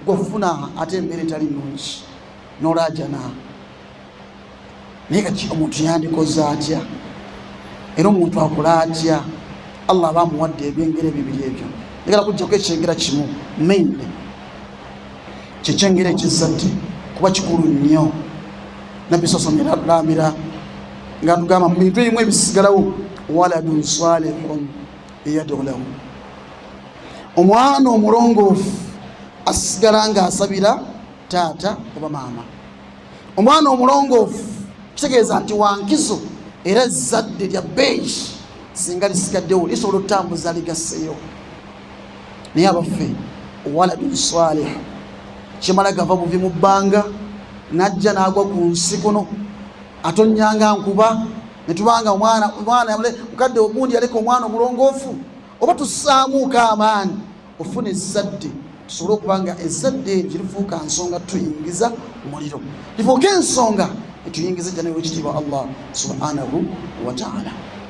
gwafuna ate embeera etali nungi nolajana naye kati omuntu yandikoze atya era omuntu akola atya allah aba amuwadde ebyengera ebibiri ebyo egala kujjako ekyengera kimu mainly kyekyengeri ekizzadde kuba kikulu nnyo nabbi saa sallam era atulambira nga atugamba mu bintu ebimu ebisigalawo waladun salihun eyadolamu omwana omulongoofu asigala nga asabira taata oba maama omwana omulongoofu kitegeeza nti wankizo era ezzadde lya beeyi singa lisigaddewo lisobola okutambuza ligaseyo naye abaffe waladun salih kimala gava buvi mu bbanga najja nagwa ku nsi kuno atonyanga nkuba netubanga omwana omwana mukadde ogundi yaleka omwana omulongoofu oba tusaamuuko amaanyi ofuna ezzadde tusobole okuba nga ezzadde eryo kirifuuka nsonga tuyingiza muliro lifuuka ensonga etuyingiza ejja nayo ekitiibwa allah subhanahu wataala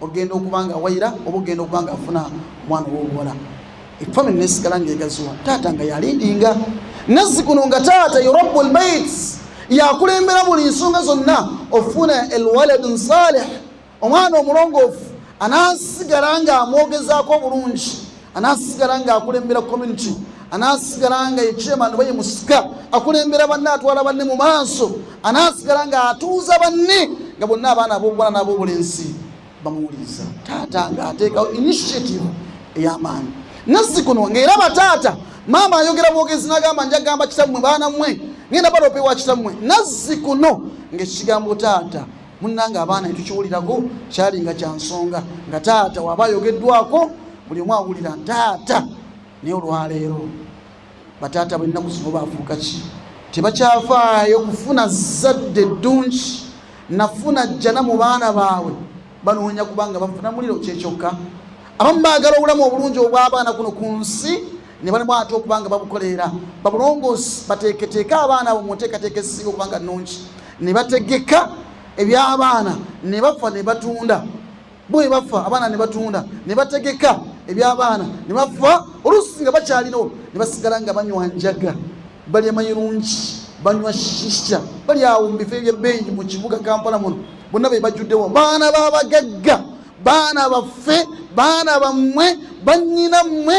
ogenda okuba nga wayira oba ogenda okuba nga afuna omwana owobuwala efamiry nesigala nga egaziwa taata nga yalindinga nazzikuno nga taata yurabu lbait yakulembera buli nsonga zonna ofuna elwaladu nsalih omwana omulongoofu anasigala nga amwogezaako obulungi anaasigala nga akulembera community anaasigala nga yekyema noba ye musika akulembera banne atwala banne mu maaso anaasigala nga atuuza banne nga bonna abaana abobuwala n'abobulenzi bamuwuliriza taata nga ateekawo initiative ey'amaanyi nazzi kuno ngaera bataata maama ayogera bwogezi nagamba njagamba kitammwe baana mmwe ngenda balopewa kitammwe nazzi kuno ngaekigambo taata munnange abaana etukiwulirako kyali nga kya nsonga nga taata waba ayogeddwako buli omu awulira taata naye olwaleero bataata bwennaku zino bafuuka ki tebakyafaayo kufuna zadde ddungi nafuna jjana mu baana baabwe banoonya kubanga bafuna muliro kyekyokka abamu baagala obulamu obulungi obw'abaana kuno ku nsi ne balimu ate okuba nga babukoleera babulongoosi bateeketeeke abaana abo mu nteekateeka ezisinga okuba nga nnungi ne bategeka eby'abaana ne bafa ne batunda bwe bafa abaana ne batunda ne bategeka eby'abaana ne bafa oluusi nga bakyalinawo ne basigala nga banywa njaga balya mayirungi banywa shisha bali awo mu bifo ebyebbeeyi mu kibuga kampala muno bonna be bajjuddewo baana babagagga baana baffe baana bammwe bannyina mmwe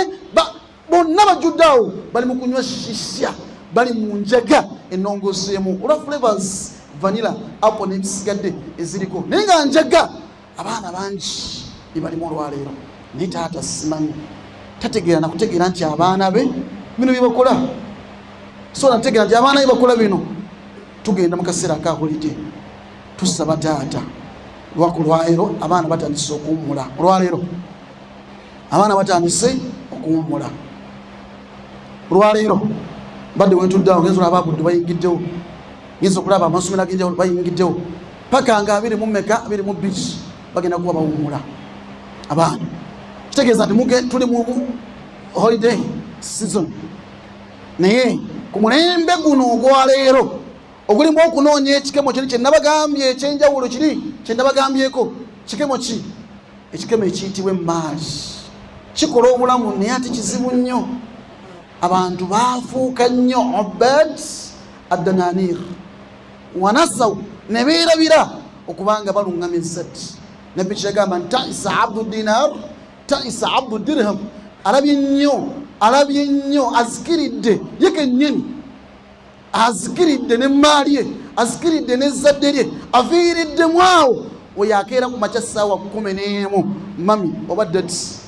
bonna bajjudde awo bali mu kunywa shisha bali mu njaga ennongoseemu olwa flavors vanilla apo nebisigadde eziriko naye nga njaga abaana bangi bebalimu olwaleero naye taata simanyi tategeera nakutegeera nti abaana be bino byebakola so nategeera nti abaana be bakola bino tugenda mu kaseera akakulidde tusaba taata lwaku lwaleero abaana batandise okuwummula olwaleero abaana batandise okuwummula olwaleero mbadde wentuddeawo ngenza olaba abuddu bayingiddewo ngenza okulaba amasomero agenjawulo bayingiddewo paka nga abiri mu meka abiri mu biki bagenda kuba bawumula abaana kitegeeza nti muge tuli mu holiday season naye ku mulembe guno ogwaleero ogulimu okunoonya ekikemo kiri kyenabagambye ekyenjawulo kiri kyenabagambyeko kikemo ki ekikemo ekiyitibwa emaali kikola obulamu naye ati kizibu nnyo abantu baafuuka nnyo obed adananir wanasaw ne beerabira okubanga baluŋŋama ensati nabbi kyagamba nti taisa abdu dinar taisa abdu dirham alabye nnyo alabye nnyo azikiridde ye kennyini azikiridde ne mmaali ye azikiridde n'ezzadde lye aviiriddemu awo oyo akeera ku makya ssaawa kumi n'emu mami oba dati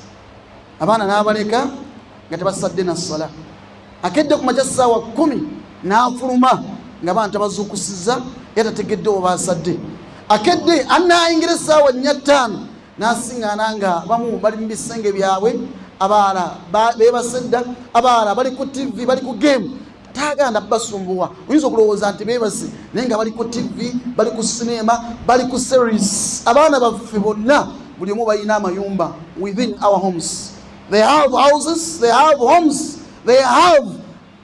abaana n'abaleka nga tebasadde na ssala akedde ku makya ssaawa kumi n'afuluma nga bantu abazuukusiza era tategedde obaasadde akedde anaayingira essaawa nnya ttaano n'asiŋŋaana nga bamu bali mu bisenge byabwe abaala beebasedda abaala bali ku tivi bali ku geemu taaganda basumbuwa oyinza okulowooza nti beebase naye nga bali ku tivi bali ku sineema bali ku series abaana baffe bonna buli omu balina amayumba within our homes they have houses they have homes they have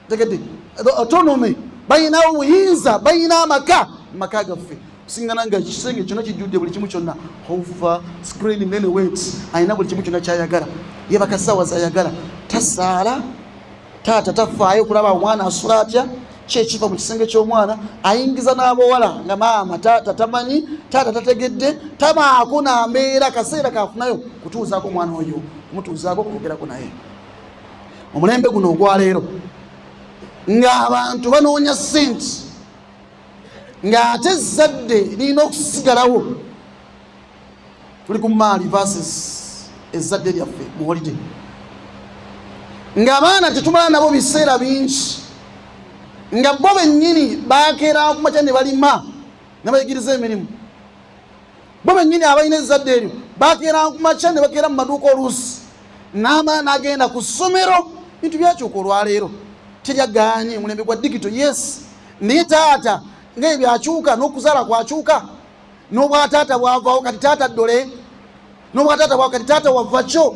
the autonomy balina obuyinza balina amaka maka gaffe singana nga kisenge kyona kijjudde buli kimu kyonna hova screen many weights alina buli kimu kyona kyayagala yebaka sawa zayagala tasaala taata tafaayo okulaba omwana asula atya kyekiva mu kisenge ky'omwana ayingiza n'abawala nga maama taata tamanyi taata tategedde tabaako nambeera kaseera kafunayo kutuuzaako omwana oyo kumutuuzaako okwogerako naye omulembe guno ogwaleero ng'abantu banoonya sente ng'ate ezzadde lirina okusigalawo tuli ku maali versus ezzadde lyaffe mu holiday ng'abaana tetumala nabo biseera bingi nga bo bennyini bakeera kumakya ne balima ne bayigiriza emirimu bo bennyini abalina ezzadde eryo bakeera kumakya ne bakeera mu maduuka oluusi n'amaana agenda ku ssomero bintu byakyuka olwaleero teryagaanye omulembe gwa digito yes naye taata ngaebyo akyuka n'okuzaala kwakyuka nobwataata bwavawo kati taata dole nobwataata bwa kati taata wavakyo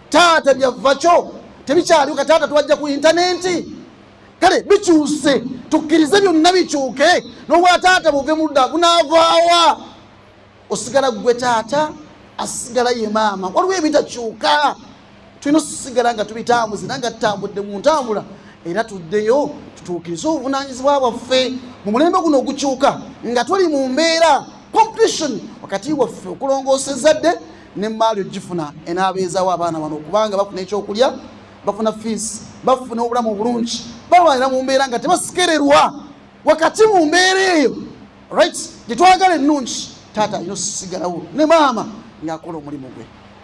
taata byavakyo tebikyaliwo kati taata twajja ku intanenti kale bikyuse tukkirize byonna bikyuke nobwataata buve mudda bunavaawa osigala gwe taata asigala ye maama waliwo ebitakyuka tulina osigala nga tubitambuze era nga tutambudde mu ntambula era tuddeyo tutuukirize obuvunanyizibwa bwaffe mu mulembe guno ogukyuka nga tuli mu mbeera competition wakati waffe okulongoosa ezzadde ne maali ogifuna enaabeezawo abaana bano okubanga bafuna ekyokulya bafuna fiisi bafuna obulamu obulungi balwanira mu mbeera nga tebasikererwa wakati mu mbeera eyo right gyetwagala ennungi taata alina osigalawo ne maama ng'akola omulimu gwe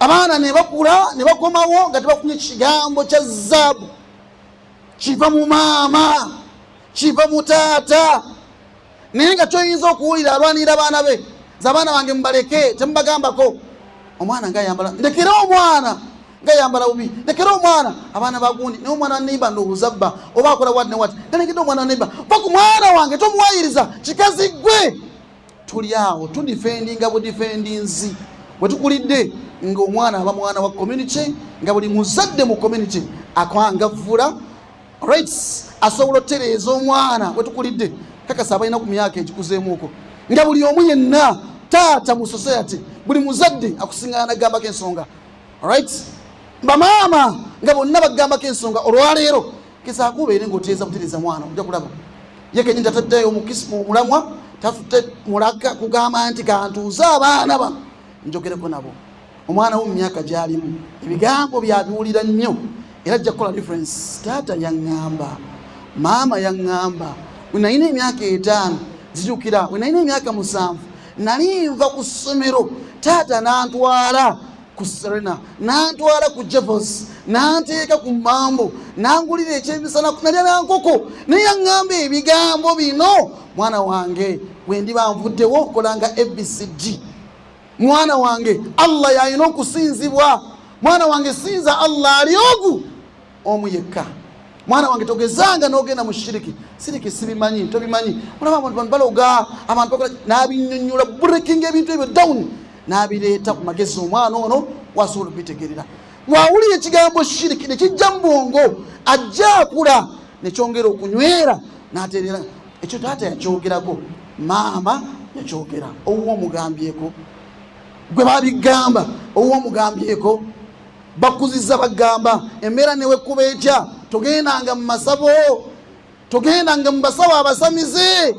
abaana nebakula nebakomawo nga tebakumye kigambo kya zaabu kiva mu maama kiva mu taata naye nga kyoyinza okuwulira alwanirira abaana be zabaana bange mubaleke temubagambako omwana nga ayambala ndekere omwana nga ayambala bubi ndekere omwana abaana bagundi naye omwana waneiba ndowooza bba oba akola wat ne wat nalegedde omwana waneiba va ku mwana wange tomuwayiriza kikazi gwe tuli awo tudifendinga budifendinzi wetukulidde nga omwana aba mwana wa community nga buli muzadde mu community akwangavvula rights asobola otereeza omwana wetukulidde kakasa abalina ku myaka egikuzeemuuko nga buli omu yenna taata mu society buli muzadde akusingana nagambako ensonga rights bamaama nga bonna bagambako ensonga olwaleero gezaako obeere ngaotereeza butereeza mwana oja kulaba yekenyini tataddeyo mulamwa tafute mulaga kugamba nti kantuuze abaana ba njogereko nabo omwana wo mu myaka gyalimu ebigambo byabiwulira nnyo era ajja kukola difference taata yaŋŋamba maama yaŋŋamba wenalina emyaka etaano zijukira wenalina emyaka musanvu nali nva ku ssomero taata nantwala ku serena nantwala ku javos nanteeka ku mambo nangulira ekyemisana nalyala nkoko naye aŋŋamba ebigambo bino mwana wange wendiba nvuddewo okolanga abcd mwana wange allah yalina okusinzibwa mwana wange sinza allah ali ogu omu yekka mwana wange togezanga nogenda mu shiriki siriki sibimanyi tobimanyi olaba abantu bantu baloga abantu bakola nabinyonyola breaking ebintu ebyo down nabireeta ku magezi omwana ono wasobola okubitegerera mwawulira ekigambo shiriki nekijja mu bwongo ajja akula nekyongera okunywera naterera ekyo taata yakyogerako maama yakyogera owuwo omugambyeko gwe babigamba owuwo omugambyeko bakuziza bagamba embeera newekuba etya togendanga mu masabo togendanga mu basawo abasamize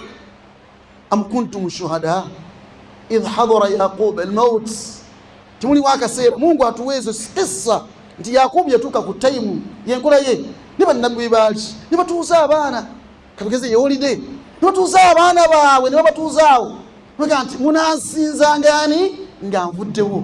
am kuntum shuhada idh hadara yaquba almaut timuliwo akaseera mungu atuwa ezo kissa nti yakubu yatuuka ku taimu yenkola ye ne bannabbi be baali ne batuuza abaana katugeze yewolide ne batuuza abaana baabwe ne babatuuzaawo nti munansinzangani nga nvuddewo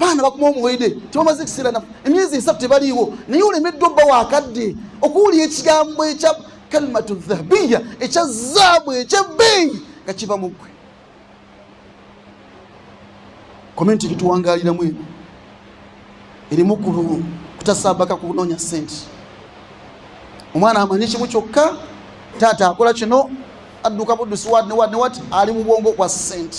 baana bakuma omuwede tebamaze ekiseera nafu emyezi esatu tebaliiwo naye olemeddwa obba wakadde okuwulira ekigambo ekya kalimatu dhahabiya ekya zaabu ekyebbeeyi nga kiva mu ggwe komenti gituwangaliramu eno erimu kutasabaka kunoonya sente omwana amanyi kimu kyokka taata akola kino adduka buddusi wad ne wad ne wat ali mu bwongo bwa sente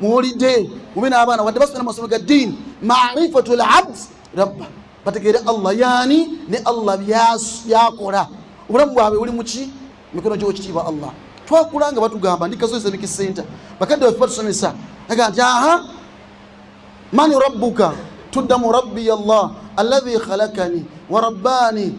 muwulidde mube n'abaana wadde basomera mu masomo ga ddiini marifatu labd rabba bategeere allah yaani ne allah byakola obulamu bwabwe buli muki mikono gyokitiibwa allah twakula nga batugamba ndi kazo islamic center bakadde bafe batusomesa aga nti aha mani rabbuka tuddamu rabbi allah alladhi khalakani wa rabbani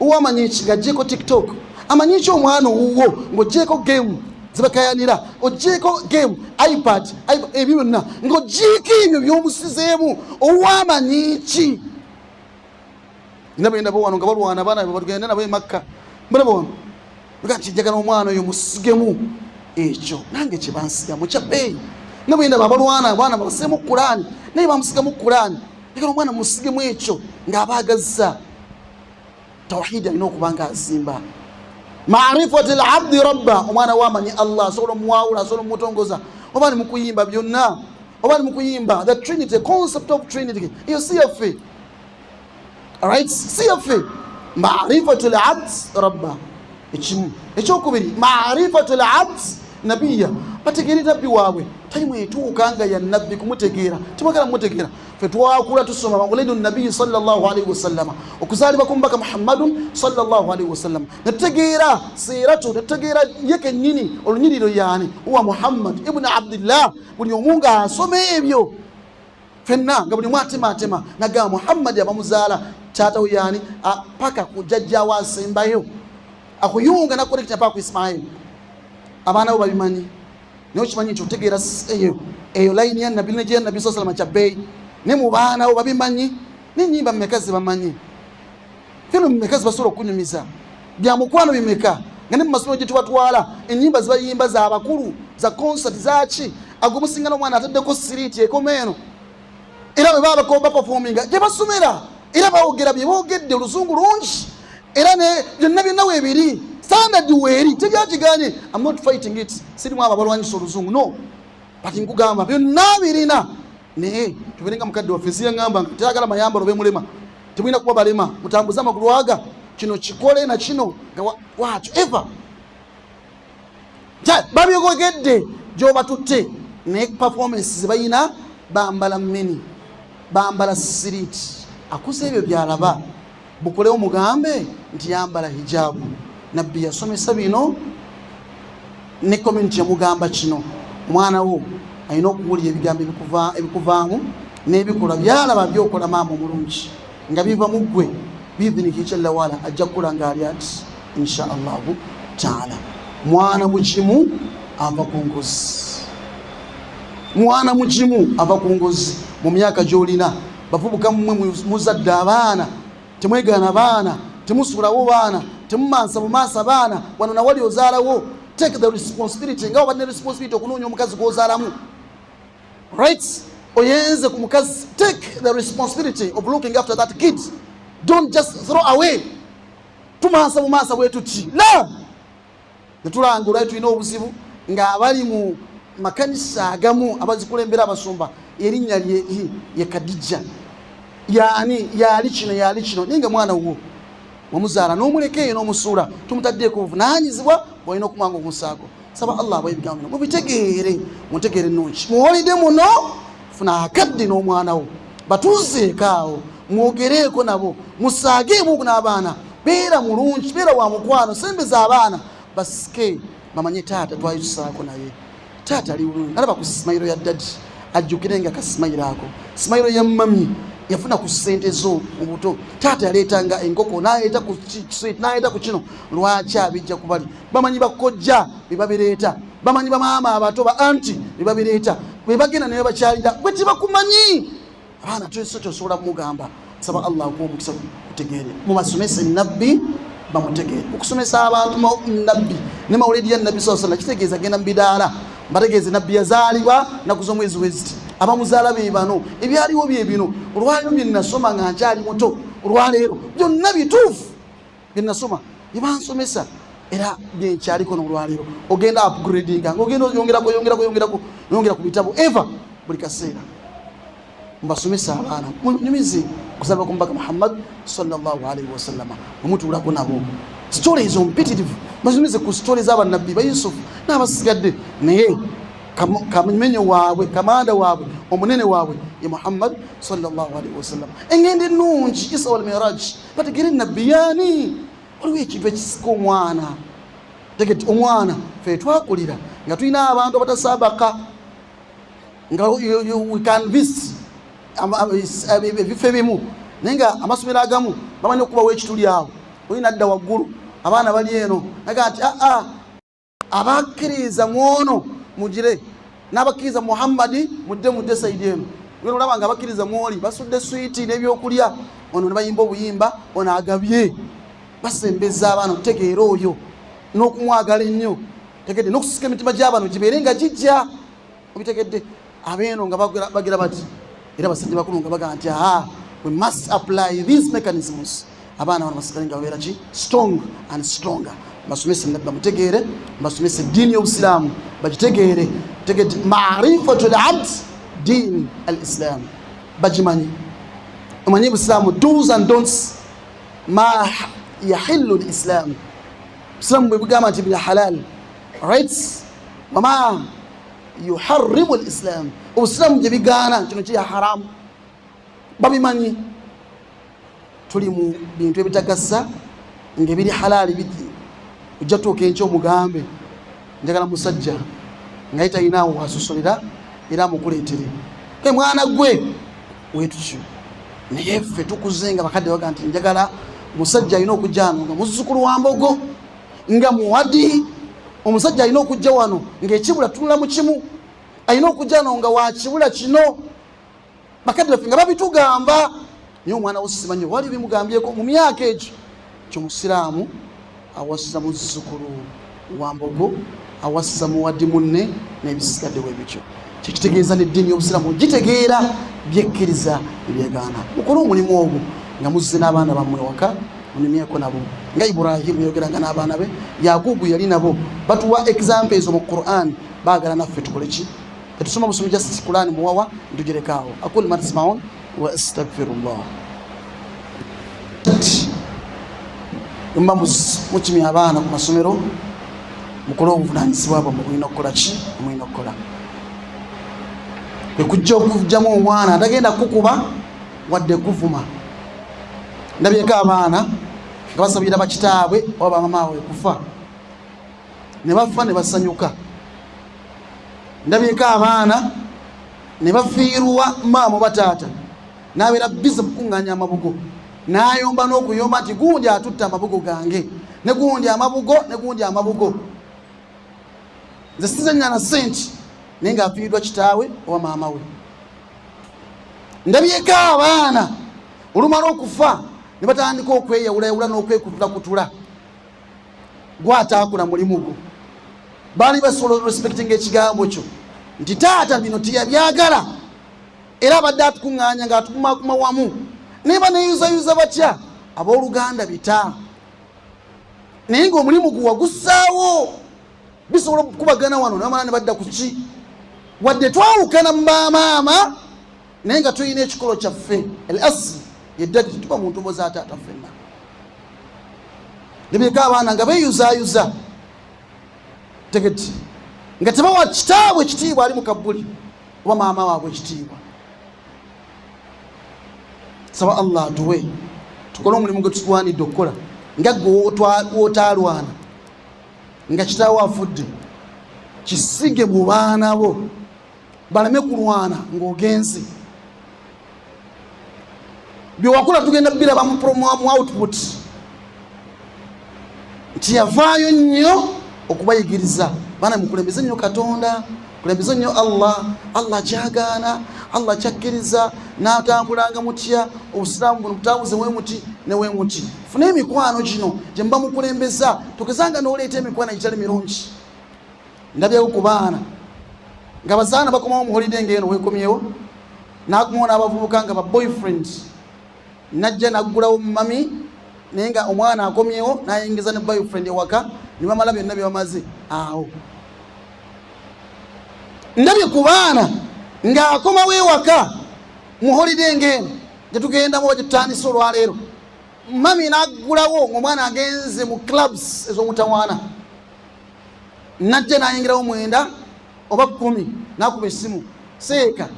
uwo amanyi ki ng'aggyeeko tiktok amanyi ki omwana owuwo ng'oggyeeko gemu zibakayanira ogyeko game ipad ebyo byonna ngaogyeko ebyo byomusizeemu owamanyi ki nabo endabo wano nga balwana abaana be batugenda nabo emakka mbalaba wano ga nti njagala omwana oyo musigemu ekyo nange kyebansigamu kyabeeyi nabo endabo abalwana abaana babaseemu kulaani naye bamusigamu kulaani njagala omwana musigemu ekyo ng'abaagazza tawhidi alina okuba nga azimba marifati labdi rabba omwana wamanyi allah asobola omuwawula asobola omutongoza oba ni mukuyimba byonna oba ni mukuyimba the trinity concept of trinity iyo si yaffe right si yaffe marifatu labd rabba ekimu ekyokubiri marifatu labd nabiya bategeere nabbi waabwe tali mwetuuka nga ya nabbi kumutegeera tibagala mumutegeera fe twakula tusoma maulidu nabiyi salllahalaihi wasallama okuzaalibwa ku mubaka muhammadun salllahalaihi wasallama netutegeera siiratu netutegeera ye kennyini olunyiriro yaani uwa muhammad ibuni abdillah buli omu nga asoma ebyo fenna nga buli omu atematema nagamba muhammadi abamuzaala taatawo yaani paka kujajjawo asembayo akuyunga nakurekita paka ku ismaili abaana bo babimanyi naye okimanyi nti otegeera eyo eyo layini ya nabbi nejeya nabbi saa salama kyabbeeyi ne mu baanawo babimanyi nenyimba mumeka zebamanyi fino mumeka zebasobola okunyumiza bya mukwano bimeka nga ne mu masomero gye tubatwala enyimba zibayimba za bakulu za konsati zaki agomusinga n'omwana ataddeko siriiti ekoma eno era bwe baba bapafominga gye basomera era bawogera bye boogedde oluzungu lungi era byonna byonna weebiri standard weeri tebyakiganye am not fighting it sirimu abo abalwanyisa oluzungu no but nkugamba byonna birina naye tuberenga mukadde waffe siyaŋamba nga teyagala mayambalo bemulema temulina kuba balema mutambuze amagulu aga kino kikole na kino nga wakyo ever babyogedde gyobatutte naye performance zebalina bambala mini bambala siriiti akuze ebyo byalaba bukolewo mugambe nti yambala hijabu nabbi yasomesa bino ne community yamugamba kino omwana wo alina okuwulira ebigambo ebikuvaamu n'ebikolwa byalaba byokola maama omulungi nga biva mu ggwe biidhiniki kyallawala ajja kukula nga ali ati insha allahu taala mwana mukimu ava ku ngozi mwana mukimu ava ku ngozi mu myaka gyolina bavubuka mumwe muzadde abaana temwegaana baana temusulawo baana temumansa bumansa baana wano nawali ozaalawo take the responsibility nga obadde ne responsibility okunoonya omukazi gwozaalamu rights oyenze ku mukazi take the responsibility of looking after that kid don't just throw away tumansa mu maasa bwetuti la netulanga olwali tulina obuzibu ng'abali mu makanisa agamu abazikulembera abasumba erinnya ye kadijja yani yali kino yali kino naye nga mwana wuwo wamuzaala n'omuleka eyo n'omusuula tumutaddeeko obuvunanyizibwa bwalina okumwanga okunsaako saba allah abawa ebigambo bino mubitegeere muntegeere ennungi muholide muno funa akadde n'omwana wo batuuzeekaawo mwogereeko nabo musaageemu n'abaana beera mulungi beera wa mukwano sembeza abaana basike bamanye taata twali tusaako naye taata ali bulungi alaba ku simayiro ya dadi ajjukire nga kasimayiro ako simayiro ya mami yafuna ku sente zo mubuto taata yaleetanga enkoko naleeta ku kino lwaki abijja kubali bamanyi bakojja bebabireeta bamanyi bamaama abato ba anti bebabireeta bebagenda naye bakyalira gwe tebakumanyi abaana tuso kyosobola kumugamba saba allah akuwa omukisa kutegeere mumasomese nabbi bamutegeere okusomesa abantu nabbi ne mawuledi ya nabbi saa sallam kitegeeza genda mu bidaala mbategeeze nabbi yazaalibwa naku z'omwezi weziti abamuzaala be bano ebyaliwo bye bino olwaliro bye nnasoma nga nkyali muto olwaleero byonna bituufu bye nasoma bye bansomesa era byenkyaliko nolwaleero ogenda upgradinga ngaogenda oyongerako yongerako yongerako yongera ku bitabo eva buli kaseera mbasomesa abaana munyumize kusaba ku mubaka muhammad salllahalaihi wasallama omutuulako nabo sitole ezo mpitirivu mbasomese ku sitole zabanabbi bayusufu n'abasigadde naye kamenyo waabwe kamanda waabwe omunene waabwe ye muhammad salllahalaihi wasallama engendo ennungi isa walmiraji bategere nabiyani waliwo ekintu ekisika omwana tegeti omwana fe twakulira nga tulina abantu abatasabaka nga wecanvist ebifo ebimu naye nga amasomero agamu bamanyi okubawo ekituli awo oyina adda waggulu abaana bali eno naga nti aa ah, ah, abakkiriza mwono mugire n'abakkiriza muhammadi mudde mudde saidi eno wena olaba nga abakkiriza mwoli basudde switi n'ebyokulya ono ne bayimba obuyimba ono agabye basembeza abaana okutegeera oyo n'okumwagala ennyo tegede n'okusika emitima gy'abantu gibeere nga gijja obitegedde abeeno nga bagira bati era basajja bakulu nga bagamba nti aha we must apply these mechanisms abaana bano basigale nga babeera ki strong and stronger basomese nabbi bamutegeere basomese eddiini y'obusiraamu bagitegeere tegeti marifatu labd diin al islaamu bagimanyi omanyi busiraamu dos and dons ma yahillu l islaamu busiraamu bwe bugamba nti bya halal rights wama yuharimu lislamu obusiraamu gye bigaana kino kiri haramu babimanyi tuli mu bintu ebitagasa nga ebiri halaali biki ojja tuuka enkya omugambe njagala musajja ngaye talinaawo wasosolera era amukuleetere e mwana gwe wetutyo naye ffe tukuze nga bakadde baga nti njagala musajja alina okujja ano nga muzzukulu wa mbogo nga muwadi omusajja alina okujja wano ngaekibula tunula mu kimu alina okujja wano nga wakibula kino bakadde baffe nga babitugamba naye omwana wo simanyi wali bimugambyeko mu myaka egyo kyomusiraamu awasiza muzzukulu wa mbogo awasiza muwadi munne nebisigadde webityo kyekitegeeza neddiini yobusiramu gitegeera byekkiriza ebyegaana mukole omulimu ogwo nga muzze n'abaana bammwe waka munyumyeko nabo nga ibrahimu yayogeranga n'abaana be yagugu yali nabo batuwa example ezo mu quran baagala naffe tukoleki tetusoma busomi just quran muwawa ntugirekaawo akul matismaon wa astagfirullah kati mba mukimya abaana ku masomero mukole obuvunanyizibwa bwe mubulina okukola ki mulina okukola ekujja okujjamu omwana atagenda kukuba wadde kuvuma ndabyeko abaana nga basabira bakitaabwe oba bamamaawe kufa ne bafa ne basanyuka ndabyeko abaana ne bafiirwa maamu bataata n'abeera bize mukuŋŋaanya amabugo n'ayomba n'okuyomba nti gundi atutte amabugo gange ne gundi amabugo ne gundi amabugo nze sizenyana sente naye ng'afiiriddwa kitaawe oba maama we ndabyeko abaana olumala okufa ne batandika okweyawulayawula n'okwekutulakutula gwataakula mulimu gwo baali basobola orespectinga ekigambo kyo nti taata bino teyabyagala era abadde atukuŋŋaanya ng'atukumakuma wamu naye baneyuzayuza batya abooluganda bita naye ng'omulimu gwe wagussaawo bisobola okukubagana wano namala ne badda ku ki wadde twawukana mu bamaama naye nga tulina ekikolo kyaffe el asli yeddadi tetuba mu ntumo za taata ffenna nebireka abaana nga beyuzayuza tegeti nga tebawa kitaabwe ekitiibwa ali mu kabbuli oba maama waabwe ekitiibwa saba allah atuwe tukole omulimu gwe tutwanidde okukola nga gwe wotaalwana nga kitaawo afudde kisige mu baana bo baleme kulwana ng'ogenze byewakula tugenda biraba mu output nti yavaayo nnyo okubayigiriza baana mukulembeze nnyo katonda kulembeze nnyo allah allah kyagaana allah kyakkiriza natambulanga mutya obusiraamu buno butabuze wemuti newemuti funa emikwano gino gyemuba mukulembeza tugezanga noleeta emikwano egitali mirungi ndabyewo ku baana nga bazaana bakomawo muholide ngaeno wekomyewo nakumawo n'abavubuka nga baboyfriend najja naggulawo mumami naye nga omwana akomyewo nayingiza ne boyfriend ewaka nebamala byonna byebamaze awo ndabye ku baana ng'akomawo ewaka muholide ngaeno gyetugendamu oba gyetutandise olwaleero mami naggulawo ngaomwana agenze mu clubs ez'omutawaana najja nayingirawo mwenda oba kumi nakuba esimu seeka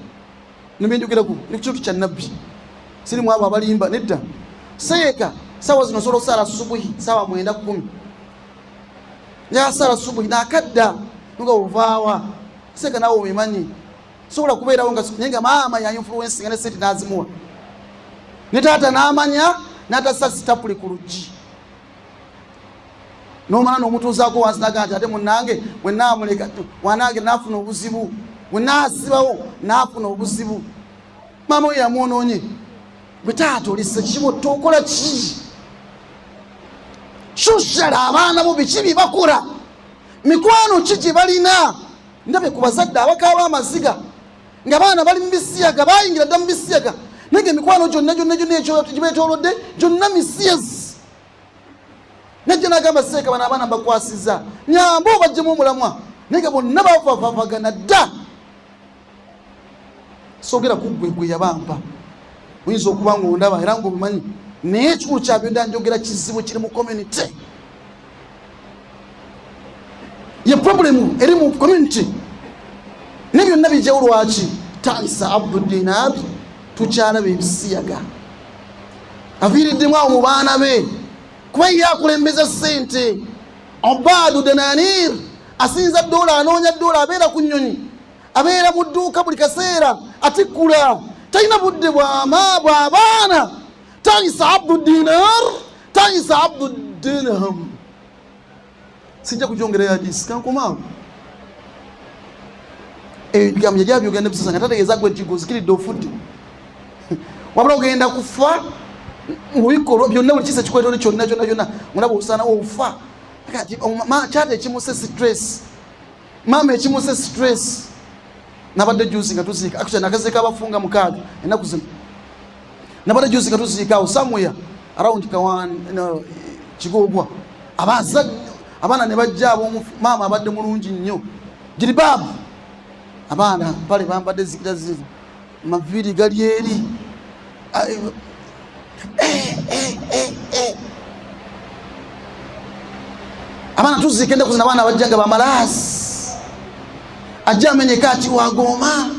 nembindukiraku nekitundu kya nabbi siri mwabo abalimba nedda seeka sawa zino osobola osaala subuhi sawa mwenda kumi yasaala subuhi nakadda nga ovaawa seeka nawe obimanyi sobola kubeerawo naye nga maama yayinfluensinga ne sente nazimuwa ne taata namanya natasasitapuli ku luggi nomala nomutuuzaako wansi naga nti ate munange wenamuleka wanange nafuna obuzibu wenasibawo nafuna obuzibu maama oyo yamwononye gwe taata olise kibo tokola ki shushara abaana bo biki byebakora mikwano ki gye balina ndabe ku bazadde abakaaba amaziga nga baana bali mu bisiyaga bayingira dda mu bisiyaga naye nga emikwano gyonna gyonna gyonna ekyogibetolodde gyonna misiyezi najja nagamba seeka bano abaana mbakwasiza nyamba obajjemu omulamwa naye nga bonna bavavavagana dda sogera kuggwe gwe yabampa oyinza okuba nga ondaba era ngaobimanyi naye ekikulu kyabyo nda njogera kizibu kiri mu community ye problemu eri mu community ne byonna bijjawo lwaki taisa abdu dinar tukyalaba ebisiyaga aviiriddemu awo mu baana be kuba ye akulembeza sente obadu denanir asinza dola anoonya dola abeera ku nyonyi abeera mu dduuka buli kaseera atikkula talina budde bwama bwabaana taisa abdu dinar tayisa abdu dirham sijja kujongereyo hadisi kankomaawo ebigambo yali abyogera ne bisasa nga tategeeza gwe nti guzikiridde ofudde wabula ogenda kufa mubikolwa byonna buli kisa kikwetole kyonna kyonna kyonna mulaba osaana ofa kati kyata ekimusa stress maama ekimuse stress nabadde juzi nga tuziika akutya nakaziika abafunga mukaaga enaku zino nabadde juzi nga tuziika awo samuya around kawan no, kigogwa abaza abaana ne bajja abomu maama abadde mulungi nnyo jiribaabu abaana pale bambadde zikira zivu amaviiri gali eri abaana tuziika ennaku zina abaana bajja nga bamalaasi ajja amenyeka ati wagooma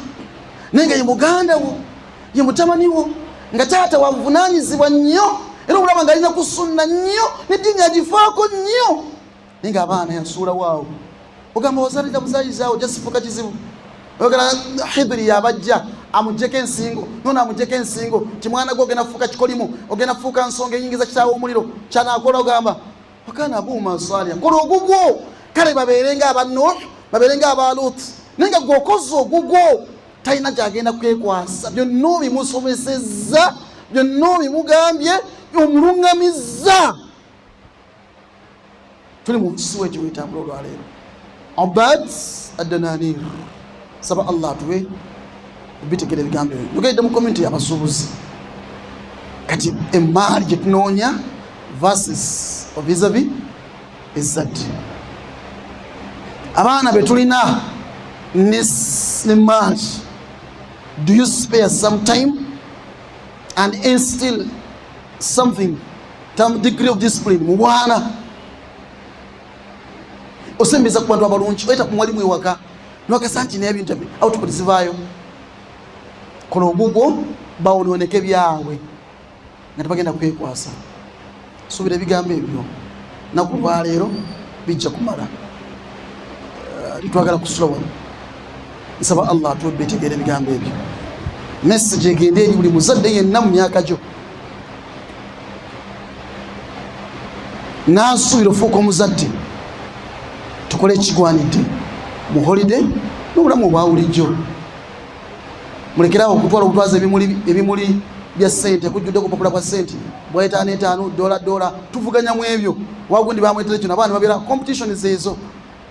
naye nga ye muganda wo ye mutamani wo nga taata wabuvunanyizibwa nnyo era obulaba nga alina kusunna nnyo neddiini agifaako nnyo naye nga abaana yasuulawo awo ogamba wazalira muzayizaawo jasifuka kizibu ogala hidiri yabajja amujjeko ensingo nona amujjeko ensingo ti mwana gwe ogenda kufuuka kikolimu ogenda kufuuka nsonga eyingiza kitaawo omuliro kyanakola ogamba wakana abuuma salia kola ogugwo kale babeerenga aba nuh babeerenga aba lut naye nga gwe okoze ogugwo talina gyagenda kwekwasa byonna obimusomesezza byonna obimugambye omulungamizza tuli mu nsi wekyo wetambula olwaleero obad adananir saba allah atuwe bitegera ebigambo ebyo nogedde mu komenti yabasuubuzi kati emaali gyetunoonya verses ovisavi ezzadde abaana betulina ne maali do you spare some time and instill something some degree of discipline mu bwana osembeza ku bantu abalungi oyita ku mwalimu ewaka nokesa nti naye ebintu output zivaayo kola ogugwo bawonooneke byabwe nga tebagenda kwekwasa suubira ebigambo ebyo naku lwaleero bijja kumala eh, twagala kusula wano nsaba allah atuwe betegeera ebigambo ebyo message egende eri buli muzadde yenna mu myaka gyo nansuubira ofuuka omuzadde tukole ekigwanidde mu holiday n'obulamu obwawulijjo mulekerawo okutwala okutwaza ebimuli bya sente kujjudde kupapula kwa sente bwaetaano etaano dola dola tuvuganya mu ebyo wagundi bamwetera ekyo nabaana babeera competition zeezo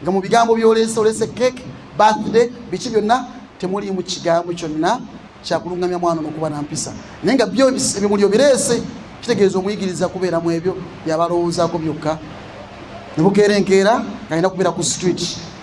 nga mu bigambo byoleese oleese cake birthday biki byonna temuliimu kigambo kyonna kyakulungamya mwana nokuba nampisa naye nga byo ebimuli obireese kitegeeza omuyigiriza kubeera mu ebyo byabalowoozaako byokka nebukeera enkeera nga alina kubeera ku street